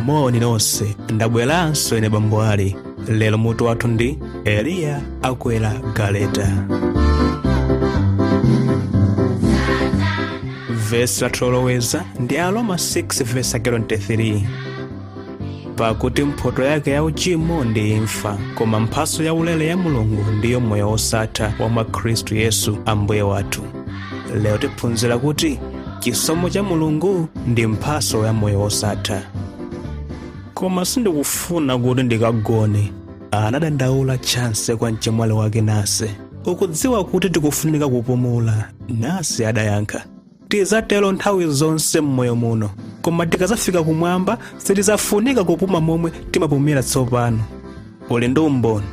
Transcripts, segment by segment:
moni nonse ndabweranso ine bambo ali lero mutu wathu ndi eliya akwera galeta vesi lathu loloweza ndi aroma 6 vesi 23 pakuti mphoto yake ya uchimo ndi imfa koma mphaso ya ulere ya mulungu ndiyo moyo wosatha wa mwa khristu yesu ambuye wathu lero tiphunzira kuti chisomo cha mulungu ndi mphaso ya moyo wosatha koma sindikufuna kuti ndikagone anadandaula chansi kwa mchemwali wake nase ukudziwa kuti tikufunika kupumula nase adayankha tizatero nthawi zonse m'moyo muno koma tikazafika kumwamba sitizafunika kupuma momwe timapumira tsopano uli ndi umboni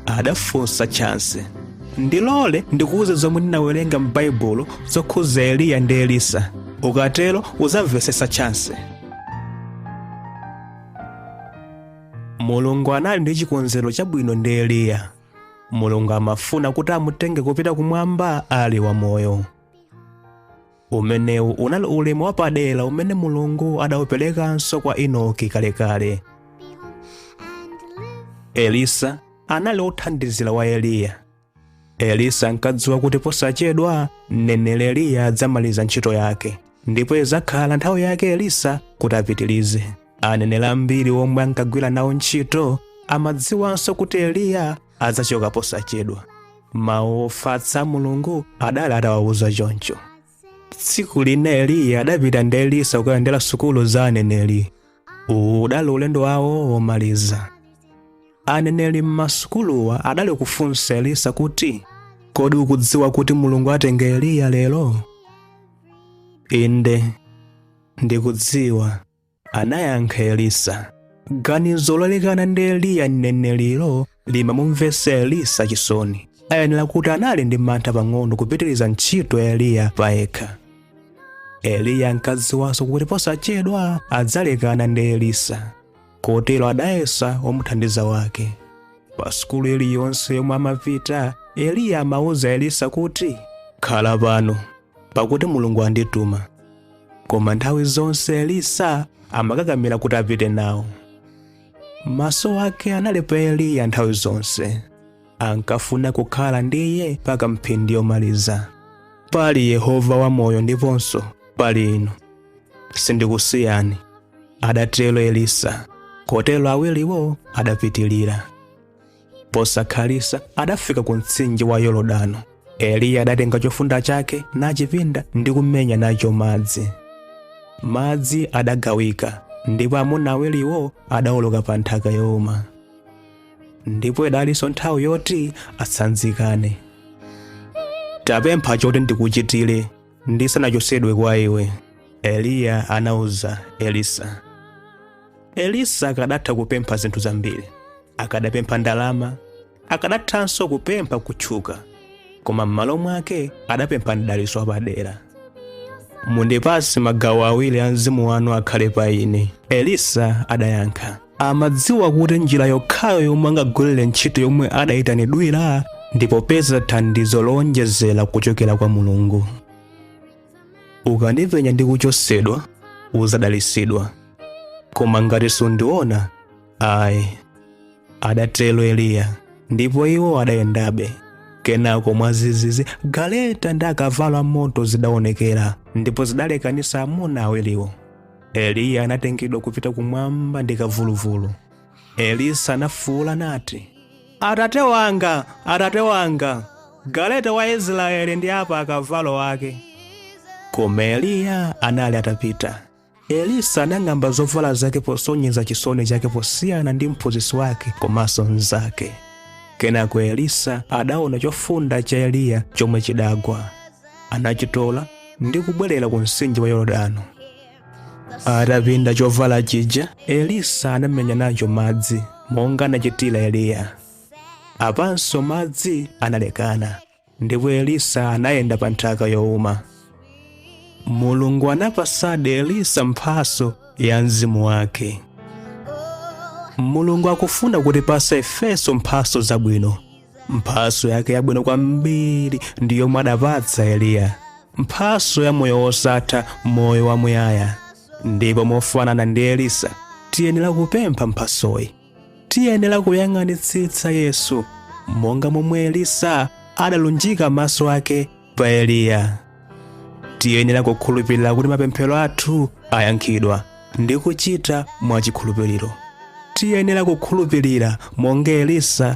adafunsa chansi ndilole ndikuuze zomwe ndinawerenga m'baibulo zokhuza eliya ndi elisa ukatero uzamvesesa chansi mulungu anali ndi chikonzero chabwino ndi eliya mulungu amafuna kuti amutenge kupita kumwamba ali wamoyo umenewu unali ulemu wapadera umene mulungu adauperekanso kwa enoki kalekale elisa anali wothandizira wa eliya elisa ankadziwa kuti posachedwa mneneri eliya adzamaliza ntchito yake ndipo idzakhala nthawi yake elisa kuti apitirize aneneri ambiri omwe ankagwira nawo ntchito amadziwanso kuti eliya adzachoka posachedwa mawu ofatsa a mulungu adali atawawuza choncho tsiku lina eliya adapita ndi elisa kukayendera sukulu za aneneri uwu udali ulendo wawo womaliza aneneri m'masukuluwa adali kufunsa elisa kuti kodi ukudziwa kuti mulungu atenge eliya lero inde ndikudziwa anayankha elisa ganizo lolekana ndi eliya mneneriyo limamumvetsa elisa chisoni ayenera kuti anali ndi mantha pang'ono kupitiriza ntchito ya eliya payekha eliya ankadziwanso kuti posachedwa adzalekana ndi elisa kotero adayesa womuthandiza wake pa sukulu iliyonse yomwe amapita eliya amauza elisa kuti khala pano pakuti mulungu andituma koma nthawi zonse elisa amakakamira kuti apite nawo maso ake anali pa eliya nthawi zonse ankafuna kukhala ndi iye mpaka mphindi yomaliza pali yehova wamoyo ndiponso pali inu sindikusiyani adatero elisa kotero awiriwo adapitirira posakhalitsa adafika ku mtsinje wa yorodano eliya adatenga chofunda chake nachipinda ndi kumenya nacho madzi madzi adagawika ndipo amuna awiriwo adawoloka pa nthaka youma ndipo idalinso nthawi yoti atsanzikane tapempha choti ndikuchitire ndisanachosedwe kwa iwe eliya anauza elisa elisa akadatha kupempha zinthu zambiri akadapempha ndalama akadathanso kupempha kutchuka koma m'malo mwake adapempha mdaliso wapadera mundipase magawo awiri a mzimu wanu akhale pa ine elisa adayankha amadziwa kuti njira yokhayo yomwe angagwirire ntchito yomwe adayitanidwira ndi popeza thandizo lowonjezera kuchokera kwa mulungu ukandipenya ndi kuchosedwa uzadalisidwa koma ngati sundiona ayi adatero eliya ndipo iwo adayendabe kenako mwazizizi galeta ndi akavalo amoto zidaonekera ndipo zidalekanisa amuna awiriwo eliya anatengedwa kupita kumwamba ndi kavuluvulu elisa anafuwula nati atate wanga atate wanga galeta wa israeli ndi apakavalo ake koma eliya anali atapita elisa anang'amba zovala zake posonyeza chisoni chake posiyana ndi mphunzitsi wake komanso mnzake kenako elisa adaona chofunda cha eliya chomwe chidagwa anachitola ndi kubwerera ku mtsinje wa yorodano atapinda chovala chija elisa anamenya nacho madzi monga anachitira eliya apanso madzi analekana ndipo elisa anayenda pa nthaka yowuma mulungu anapasadi elisa mphaso ya mzimu wake mulungu akufuna kutipasa ifeso mphaso zabwino mphaso yake yabwino kwambiri ndi yomwe adapatsa eliya mphaso ya moyo wosatha moyo wamuyaya ndipo mofanana ndi elisa tiyenera kupempha mphasoyi tiyenera kuyang'anitsitsa yesu monga momwe elisa adalunjika maso ake pa eliya tiyenera kukhulupirira kuti mapemphero athu ayankhidwa ndi kuchita mwachikhulupiriro tiyenera kukhulupirira monga elisa